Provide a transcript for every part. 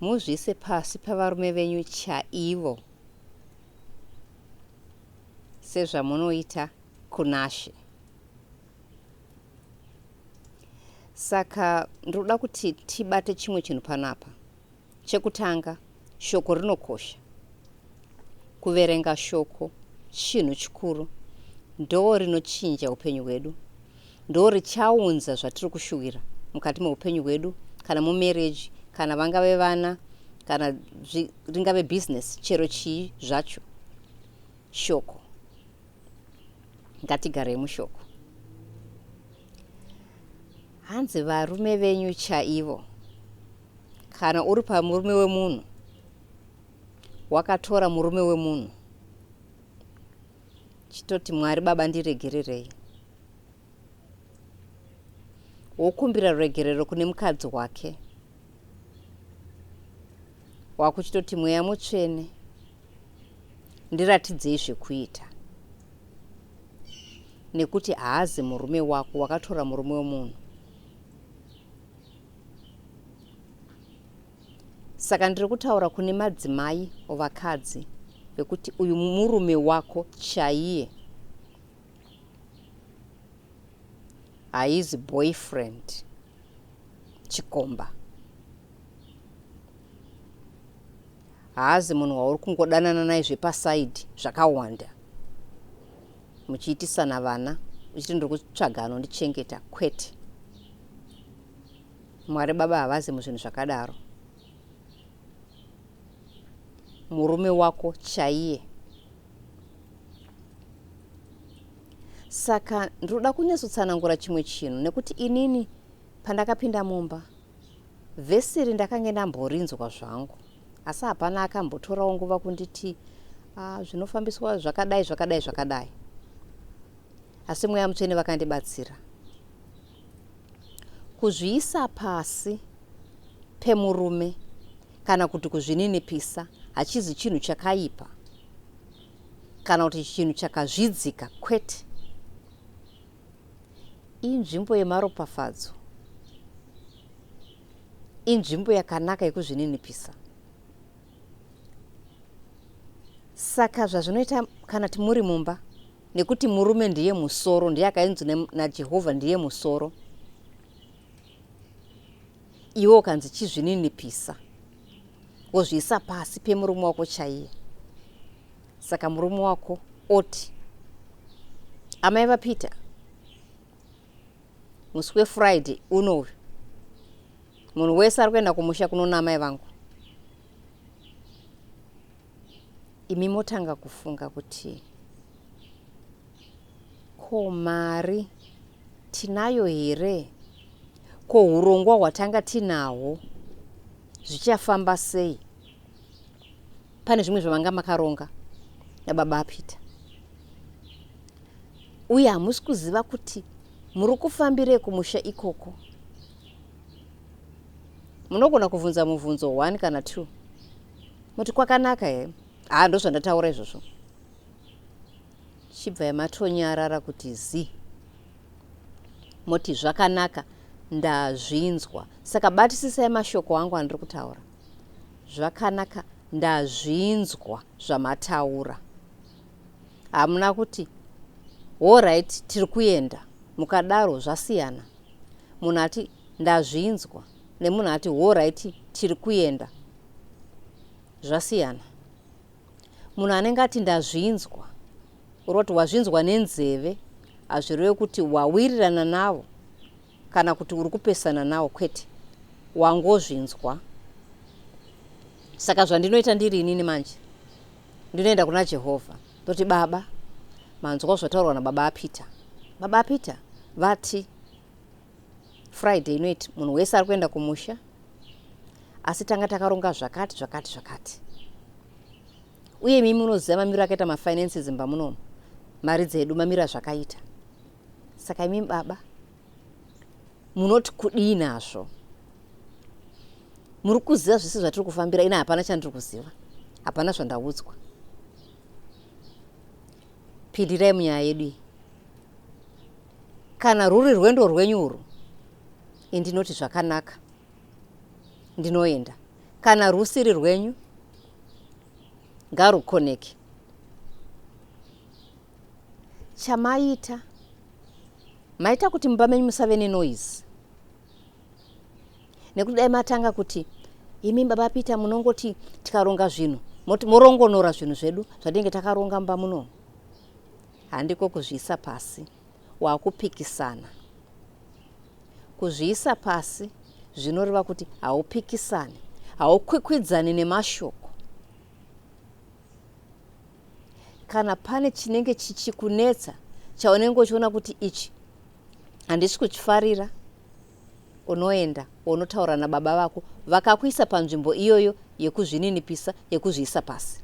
Muzviise pasi pavarume venyu chaivo sezvamunoita kunashe. Saka ndinoda kuti tibate chimwe chinhu panapa. Chekutanga. Shoko rinokosha. Kuverenga shoko chinhu chikuru. Ndoo rinochinja upenyu hwedu. Ndoo richaunza zvatiri kushuwira mukati meupenyu hwedu kana mumarriage kana vangave vana kana ringave business chero chii zvacho. Shoko. Ngatigarei mushoko. Hanzi varume venyu chaivo Kana uri pamurume wemunhu wakatora murume wemunhu chitoti Mwari baba ndiregererei. Wokumbira ruregerero kune mukadzi wake. Wakuchitoti mweya mutsvene ndiratidzei zvekuita. Nekuti haazi murume wako wakatora murume wemunhu. saka ndiri kutaura kune madzimai ovakadzi vekuti uyu murume wako chaiye haizi boyfriend chikomba haazi munhu wauri kungodanana naye zvepasaidi zvakawanda muchiitisana vana uchiti ndiri kutsvaga anondichengeta kwete Mwari baba havazi muzvinhu zvakadaro. Murume wako chaiye. Saka ndinoda kunyatsotsanangura chimwe chinhu nekuti inini pandakapinda mumba vhesi iri ndakange ndamborinzwa zvangu asi hapana akambotorawo nguva kunditi ah, zvinofambiswa zvakadai zvakadai zvakadai asi mweya mutsvene vakandibatsira Kuzviisa pasi pemurume kana kuti kuzvininipisa hachizi chinhu chakaipa kana kuti chinhu chakazvidzika, kwete. Inzvimbo yemaropafadzo, inzvimbo yakanaka yekuzvininipisa. Saka zvazvinoita kana timuri mumba nekuti murume ndiye musoro ndiye akainzwi najehovha ndiye musoro iwe ukanzi chizvininipisa wozviisa pasi pemurume wako chaiye saka murume wako oti amai vapeter musi wefriday unoyu munhu wese ari kuenda kumusha kunona amai vangu imi motanga kufunga kuti ko mari tinayo here ko urongwa hwatanga tinahwo zvichafamba sei pane zvimwe zvamanga makaronga nababa peter uye hamusi kuziva kuti muri kufambirei kumusha ikoko munogona kuvhunza muvhunzo one kana two muti kwakanaka here haa ndozvandataura izvozvo chibva yamatonyarara kuti zi moti zvakanaka ndazvinzwa saka batisisai mashoko angu andiri kutaura zvakanaka ndazvinzwa zvamataura hamuna kuti horit tiri kuenda mukadaro zvasiyana munhu ati ndazvinzwa nemunhu ati horaiti tiri kuenda zvasiyana munhu anenge ati ndazvinzwa uroti wazvinzwa nenzeve hazvireve kuti wawirirana navo kana kuti uri kupesana navo kwete wangozvinzwa saka zvandinoita ndiri inini manje ndinoenda kuna jehovha ndoti baba manzwa zvataurwa nababa apeter baba apeter vati Friday inoiti munhu wese ari kuenda kumusha asi tanga takaronga zvakati zvakati zvakati uye imi munoziva mamiro akaita mafinances imba munomu mari dzedu mamiro azvakaita saka imi baba munoti kudii nazvo muri kuziva zvese zvatiri kufambira ina hapana chandiri kuziva hapana zvandaudzwa pindirai munyaya yedu iyi Kana rwuri rwendo rwenyu urwu, indinoti zvakanaka, ndinoenda. Kana rwusiri rwenyu, ngarukoneke. Chamaita, maita kuti mumba menyu musave nenoise. Nekuti dai matanga kuti imi baba Peter munongoti tikaronga zvinhu moti morongonora zvinhu zvedu zvatinenge takaronga mumba munomu. Handiko kuzviisa pasi wakupikisana. Kuzviisa pasi zvinoreva kuti haupikisani, haukwikwidzani nemashoko. Kana pane chinenge chichikunetsa chaunenge uchiona kuti ichi handisi kuchifarira, unoenda unotaura nababa vako vakakuisa panzvimbo iyoyo yekuzvininipisa, yekuzviisa pasi.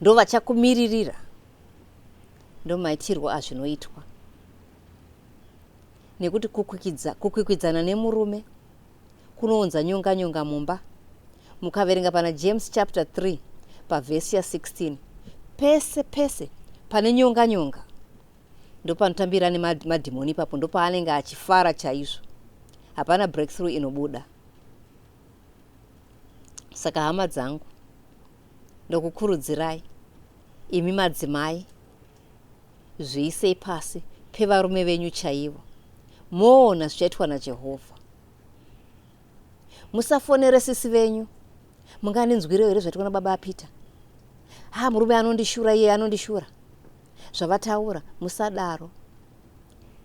Ndovachakumiririra. ndomaitirwo azvinoitwa nekuti kukwikidza, kukwikwidzana nemurume kunounza nyonga nyonga mumba mukaverenga pana james chapter 3 pavhesi ya 16 pese pese pane nyonga nyonga ndopanotambira nemadhimoni ipapo ndopaanenge achifara chaizvo hapana breakthrough inobuda saka hama dzangu ndokukurudzirai imi madzimai zviisei pasi pevarume venyu chaivo moona zvichaitwa najehovha musafonere sisi venyu mungandinzwirewo here zvaitwa nababa apeter ha murume anondishura iye anondishura zvavataura musadaro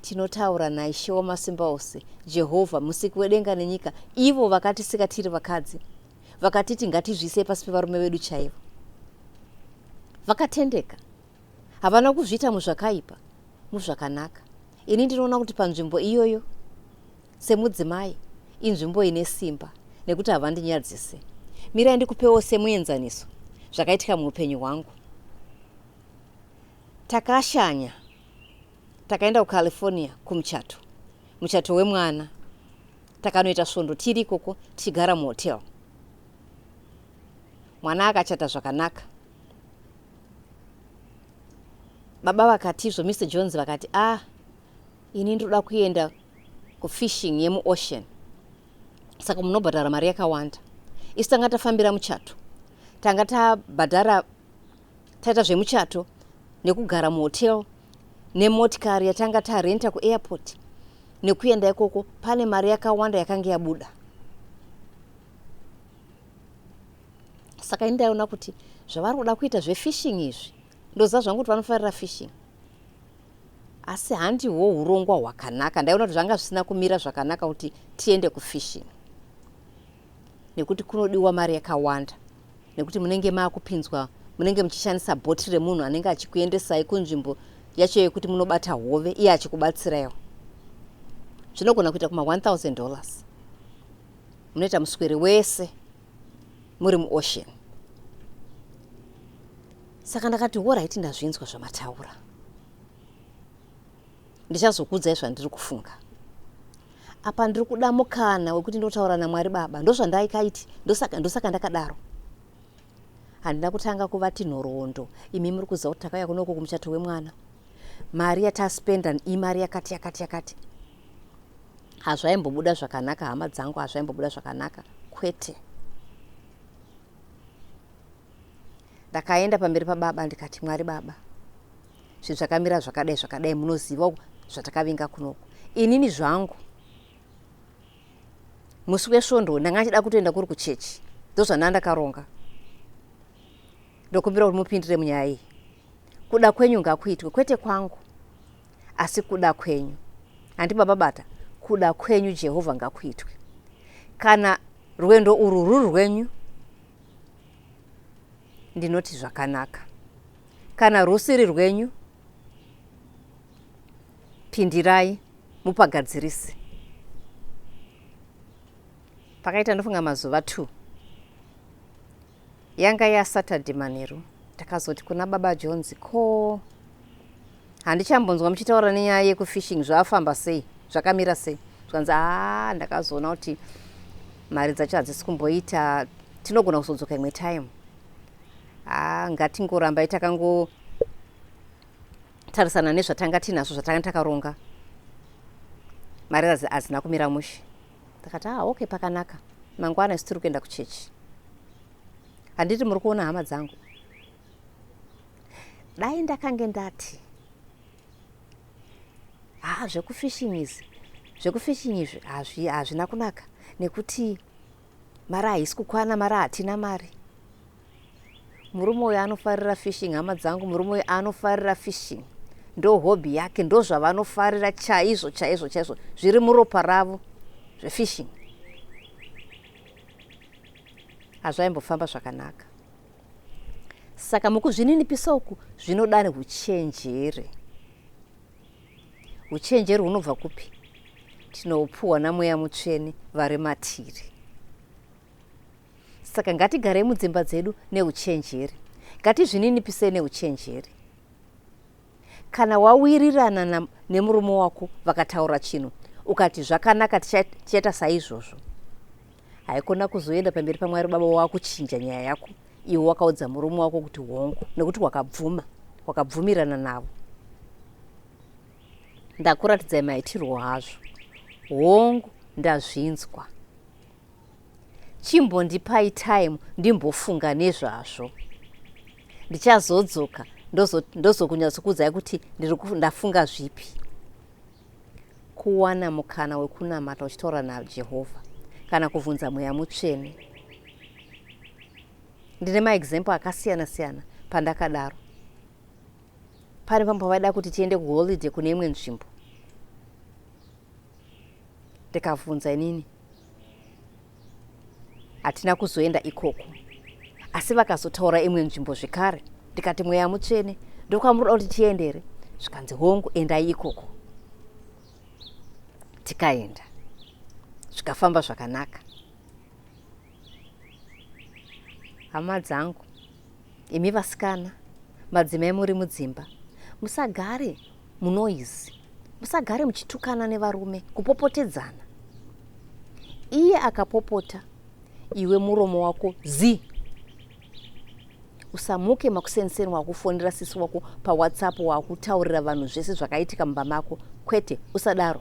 tinotaura naishe wamasimba ose jehovha musiki wedenga nenyika ivo vakatisika tiri vakadzi vakatiti ngatizviisei pasi pevarume vedu chaivo vakatendeka havana kuzviita muzvakaipa muzvakanaka ini ndinoona kuti panzvimbo iyoyo semudzimai inzvimbo ine simba nekuti havandinyadzise mirai ndikupewo semuenzaniso zvakaitika muupenyu hwangu takashanya Takaenda kuCalifornia kumuchato, muchato wemwana. Takanoita svondo tiri ikoko tichigara muhotel. Mwana akachata zvakanaka. Baba vakatizvo, Mr Jones vakati, ah, ini ndinoda kuenda kufishing yemuocean, saka munobhadhara mari yakawanda. Isu tanga tafambira muchato, tanga tabhadhara taita zvemuchato nekugara muhotel nemotikari yatanga tarenta kuairport nekuenda ikoko pane mari yakawanda yakange yabuda saka ini ndaiona kuti zvavari kuda kuita zvefishing izvi ndoziva zvangu kuti vanofarira fishing asi handiwo urongwa hwakanaka ndaiona kuti zvanga zvisina kumira zvakanaka kuti tiende kufishing nekuti kunodiwa mari yakawanda nekuti munenge maakupinzwa munenge muchishandisa bhoti remunhu anenge achikuendesai kunzvimbo yacho yekuti munobata hove iye achikubatsiraiwo zvinogona kuita kuma 1000 dollars munoita muswere wese muri muocean saka ndakati woraiti ndazvinzwa zvamataura ndichazokuudzai zvandiri kufunga apa ndiri kuda mukana wekuti ndotaura namwari baba ndozvandaikaiti ndosaka ndosaka ndakadaro handina kutanga kuvati nhoroondo imi muri kuziva kuti takauya kunoko kumuchato wemwana mari yataspenda imari yakati yakati yakati hazvaimbobuda zvakanaka hama dzangu hazvaimbobuda zvakanaka kwete ndakaenda pamberi pababa ndikati mwari baba zvinhu zvakamira zvakadai zvakadai munoziva zvatakavinga kunoku inini zvangu musi wesvondo ndanga achida kutoenda kuri kuchechi ndozvandanga ndakaronga ndokumbira kuti mupindire munyaya iyi kuda kwenyu ngakuitwe kwete kwangu asi kuda kwenyu handi baba bata kuda kwenyu jehovha ngakuitwe kana rwendo urwu ruri rwenyu ndinoti zvakanaka kana rwusiri rwenyu pindirai mupagadzirise pakaita ndofunga mazuva two yanga yasaturday manheru ndakazoti kuna baba jones ko handichambonzwa muchitaura nenyaya yekufishing zvafamba sei zvakamira sei zvikanzi haa ndakazoona kuti mari dzacho hadzisi kumboita tinogona kuzodzoka imwe time haa ngatingorambai takangotarisana nezvatanga tiinazvo zvatanga takaronga mari hadzina kumira mushe ndakati haa okay pakanaka mangwana isu tiri kuenda kuchechi handiti muri kuona hama dzangu dai ndakange ndati haa zvekufishing izi zvekufishing izvi hazvina kunaka nekuti mari haisi kukwana mari hatina mari murume uyo anofarira fishing hama dzangu murume uyo anofarira fishing ndo hobby yake ndo zvavanofarira chaizvo chaizvo chaizvo zviri muropa ravo zvefishing hazvaimbofamba zvakanaka saka mukuzvininipisa uku zvinoda neuchenjeri uchenjeri hunobva kupi tinopuhwa namweya mutsvene vari matiri saka ngatigarei mudzimba dzedu neuchenjeri ngatizvininipisei neuchenjeri Kana wawirirana na, nemurume wako vakataura chinhu ukati zvakanaka tichaita saizvozvo, haikona kuzoenda pamberi paMwari Baba wakuchinja nyaya yako iwe wakaudza murume wako kuti hongu, nekuti wakabvuma, wakabvumirana navo. Ndakuratidzai maitirwo hazvo, hongu, ndazvinzwa. Chimbondipai time ndimbofunga nezvazvo. Ndichazodzoka ndozokunyatsokuudzai kuti ndafunga zvipi. Kuwana mukana wekunamata uchitaura naJehovha kana kuvhunza mweya mutsvene. Ndine maexample akasiyana siyana pandakadaro. Pane pamwe pavaida kuti tiende kuholiday kune imwe nzvimbo ndikavhunza inini hatina kuzoenda ikoko asi vakazotaura imwe nzvimbo zvekare ndikati mweya mutsvene ndokwamurida kuti tiende here zvikanzi hongu endai ikoko tikaenda zvikafamba zvakanaka hama dzangu Imi vasikana, madzimai muri mudzimba, musagare munoise, musagare muchitukana nevarume, kupopotedzana. Iye akapopota, iwe muromo wako zi. Usamuke makuseniseni wakufonera sisi wako paWhatsApp wakutaurira vanhu zvese zvakaitika mumba mako, kwete, usadaro.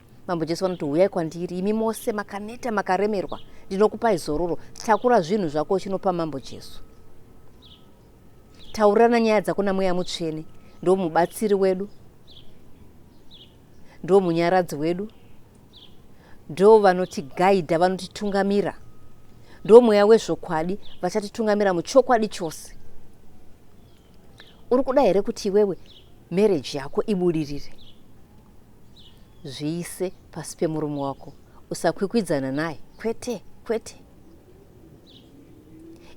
Mambo Jesu vanoti huyai kwandiri imi mose makaneta makaremerwa ndinokupai zororo. Takura zvinhu zvako uchinopa Mambo Jesu. Taurirana nyaya dzako namweya mutsvene ndo mubatsiri wedu ndo munyaradzi wedu ndo vanotigaidha vanotitungamira ndo mweya wezvokwadi vachatitungamira muchokwadi chose uri kuda here kuti iwewe mereji yako ibudirire zviise pasi pemurume wako usakwikwidzana naye kwete kwete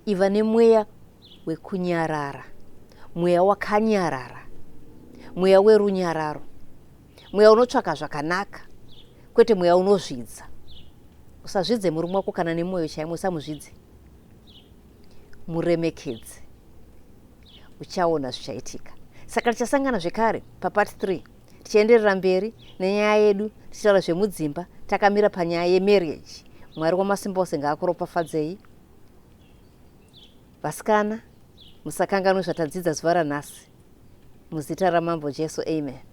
iva nemweya wekunyarara mweya wakanyarara mweya werunyararo mweya unotsvaka zvakanaka kwete mweya unozvidza usazvidze murume wako kana nemwoyo chaimwe usamuzvidze muremekedze uchaona zvichaitika saka tichasangana zvekare papart 3 tichienderera mberi nenyaya yedu tichitaura zvemudzimba takamira panyaya yemarriage mwari wamasimba ose ngaakuropafadzei vasikana musakanganwe zvatadzidza zuva ranhasi muzita ramambo jesu amen